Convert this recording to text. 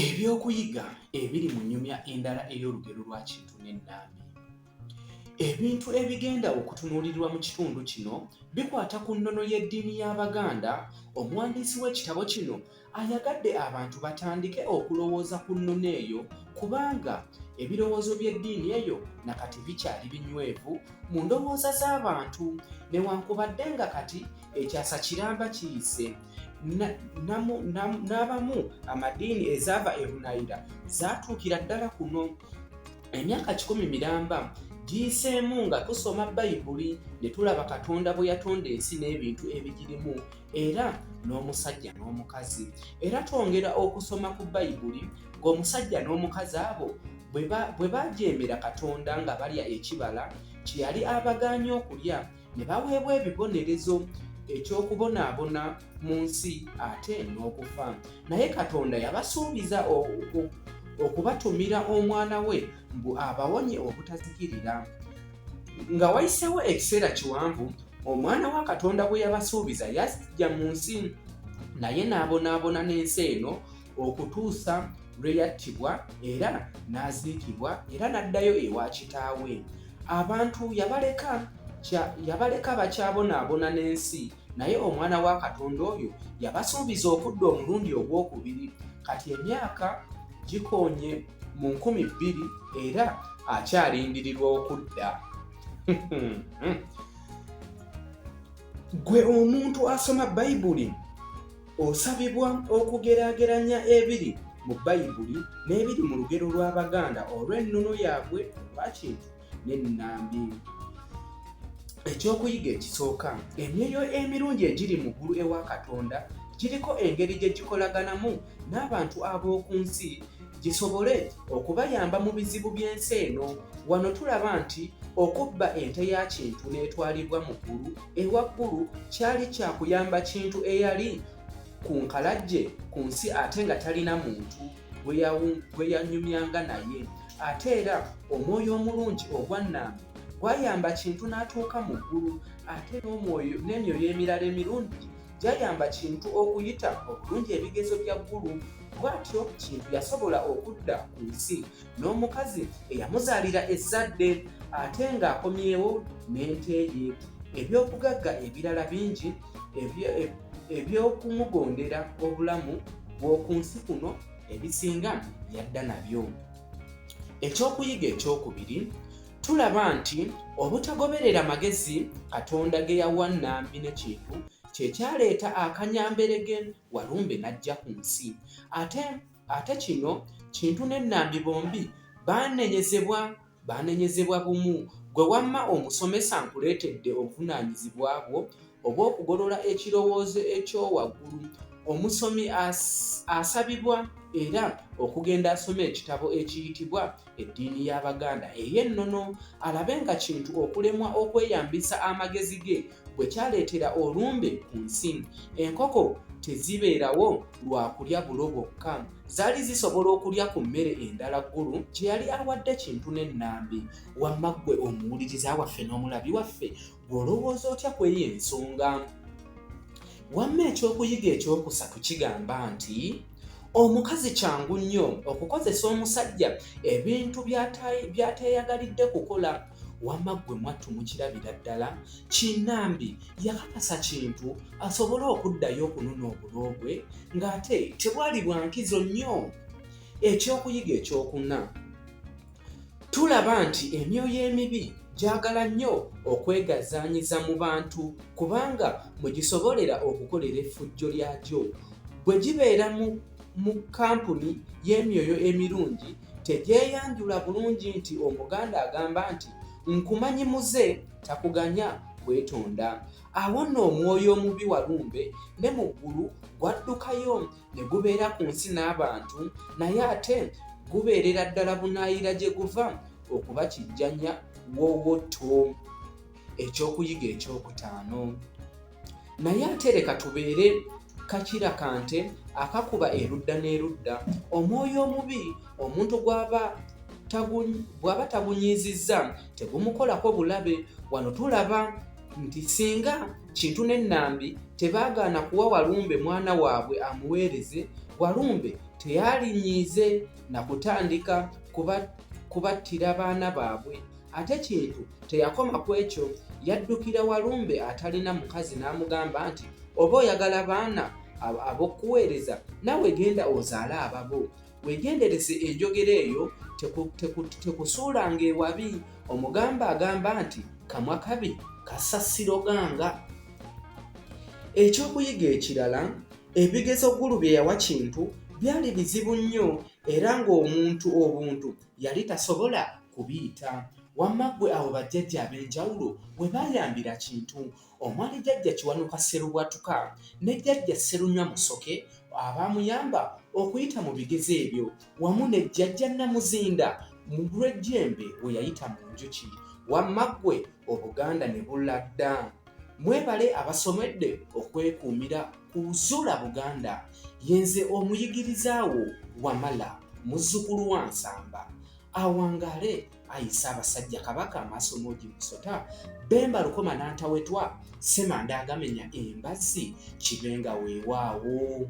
Ebyokuyiga ebiri mu nyumya endala ey'olugero lwa Kintu ne Nambi. Ebintu ebigenda okutunuulirwa mu kitundu kino bikwata ku nnono y'eddiini y'Abaganda. Omuwandiisi w'ekitabo kino ayagadde abantu batandike okulowooza ku nnono eyo kubanga ebirowoozo by'eddiini eyo na kati bikyali binywevu mu ndowooza z'abantu newankubadde nga kati ekyasa kiramba kiyise. n'abamu amadiini ezaava ebunayira zaatuukira ddala kuno emyaka kikumi miramba giyiseemu nga tusoma bayibuli ne tulaba katonda bwe yatonda ensi n'ebintu ebigirimu era n'omusajja n'omukazi era twongera okusoma ku bayibuli ng'omusajja n'omukazi abo bwe bajeemera katonda nga balya ekibala kye yali abagaanye okulya ne baweebwa ebibonerezo ekyokubonaabona mu nsi ate n'okufa naye katonda yabasuubiza okubatumira omwana we mbu abawonye obutazikirira nga wayisewo ekiseera kiwanvu omwana wa katonda bwe yabasuubiza yajja mu nsi naye n'abonaabona n'ensi eno okutuusa lwe yattibwa era n'aziikibwa era n'addayo ewa kitaawe abantu yabaleka yabaleka bakyabonaabona n'ensi naye omwana wa katonda oyo yabasuubiza okudda omulundi ogw'okubiri kati emyaka gikonye mu nkumi bbiri era akyalindirirwa okudda gwe omuntu asoma bayibuli Osabibwa okugeraageranya ebiri mu Bayibuli n'ebiri mu lugero lw'Abaganda olw'ennono yaabwe olwakintu n'ennambi. Ekyokuyiga ekisooka, emyoyo emirungi egiri mu ggulu ewa Katonda giriko engeri gye gikolaganamu n'abantu ab'oku nsi gisobole okubayamba mu bizibu by'ensi eno. Wano tulaba nti okubba ente ya Kintu n'etwalibwa mu ggulu ewa Ggulu kyali kya kuyamba Kintu eyali ku nkalajje ku nsi ate nga talina muntu gwe yanyumyanga naye. Ate era omwoyo omulungi ogwa Nnambi gwayamba Kintu n'atuuka mu ggulu ate n'emyoyo emirala emirungi gyayamba Kintu okuyita obulungi ebigezo bya Ggulu. Bw'atyo Kintu yasobola okudda ku nsi n'omukazi eyamuzaalira ezzadde ate ng'akomyewo n'ente ye. Eby'obugagga ebirala bingi eby'okumugondera obulamu bw'oku nsi kuno ebisinga yadda nabyo. Ekyokuyiga ekyokubiri. Tulaba nti obutagoberera magezi Katonda ge yawa Nambi ne Kintu kye kyaleeta akanyamberege Walumbe n'ajja ku nsi. Ate ate kino Kintu ne Nambi bombi baanenyezebwa baanenyezebwa bumu. Ggwe wamma omusomesa nkuleetedde obuvunaanyizibwa bwo oba okugolola ekirowoozo ekyowaggulu omusomi asabibwa era okugenda asoma ekitabo ekiyitibwa eddiini y'abaganda ey'ennono alabe nga kintu okulemwa okweyambisa amagezi ge bwe kyaleetera olumbe ku nsi enkoko tezibeerawo lwa kulya bulo bwokka zaali zisobola okulya ku mmere endala ggulu kye yali awadde kintu n'ennambi wamma ggwe omuwuliriza waffe n'omulabi waffe Olowooza otya ku eyo ensonga? Wamma ekyokuyiga ekyokusatu kigamba nti omukazi kyangu nnyo okukozesa omusajja ebintu byateeyagalidde kukola wamma ggwe mwattu mukirabira ddala kinambi yakakasa kintu asobole okuddayo okunona obulo bwe ng'ate tebwali bwa nkizo nnyo ekyokuyiga ekyokuna Tulaba nti emyoyo emibi gyagala nnyo okwegazaanyiza mu bantu kubanga mwe gisobolera okukolera effujjo lyagyo. Bwe gibeera mu kampuni y'emyoyo emirungi, tegyeyanjula bulungi nti Omuganda agamba nti, Nkumanyi muze takuganya kwetonda. Awo nno omwoyo omubi Walumbe ne mu ggulu gwaddukayo. ne gubeera ku nsi n'abantu naye ate gubeerera ddala bunaayira gye guva okuba kijjanya wowoto ekyokuyiga ekyokutaano naye ate leka tubeere kakira kante akakuba erudda n'erudda omwoyo omubi omuntu gwaba bw'aba tagunyiizizza tegumukolako bulabe wano tulaba nti singa Kintu ne Nambi tebaagaana kuwa Walumbe mwana waabwe amuweereze, Walumbe teyalinyiize na kutandika kubattira baana baabwe. Ate Kintu teyakoma ku ekyo, yaddukira Walumbe atalina mukazi n'amugamba nti, Oba oyagala baana ab'okukuweereza, naawe genda ozaale ababo. Weegendereze enjogera eyo, tekusuulanga ewabi. Omugamba agamba nti kamwa kabi kassa siroganga. Ekyokuyiga ekirala, ebigezo Gulu bye yawa Kintu byali bizibu nnyo era ng'omuntu obuntu yali tasobola kubiyita. Wamma ggwe awo bajjajja ab'enjawulo we baayambira Kintu omwali Jjajja Kiwanuka Sserubwatuka ne Jjajja Sserunywa Musoke abaamuyamba okuyita mu bigezo ebyo wamu ne Jjajja Namuzinda Mugulwejjembe we yayita mu njuki wamma ggwe Obuganda ne bulla dda. Mwebale abasomedde okwekuumira ku Zuula Buganda. Ye nze omuyigiriza wo Wamala muzzukulu wa Nsamba. Awangaale ayi Ssaabasajja Kabaka Maasomoogi Musota, Bemba Lukoma Nantawetwa, Ssemanda Agamenya Embazzi, Kibenga weewaawo.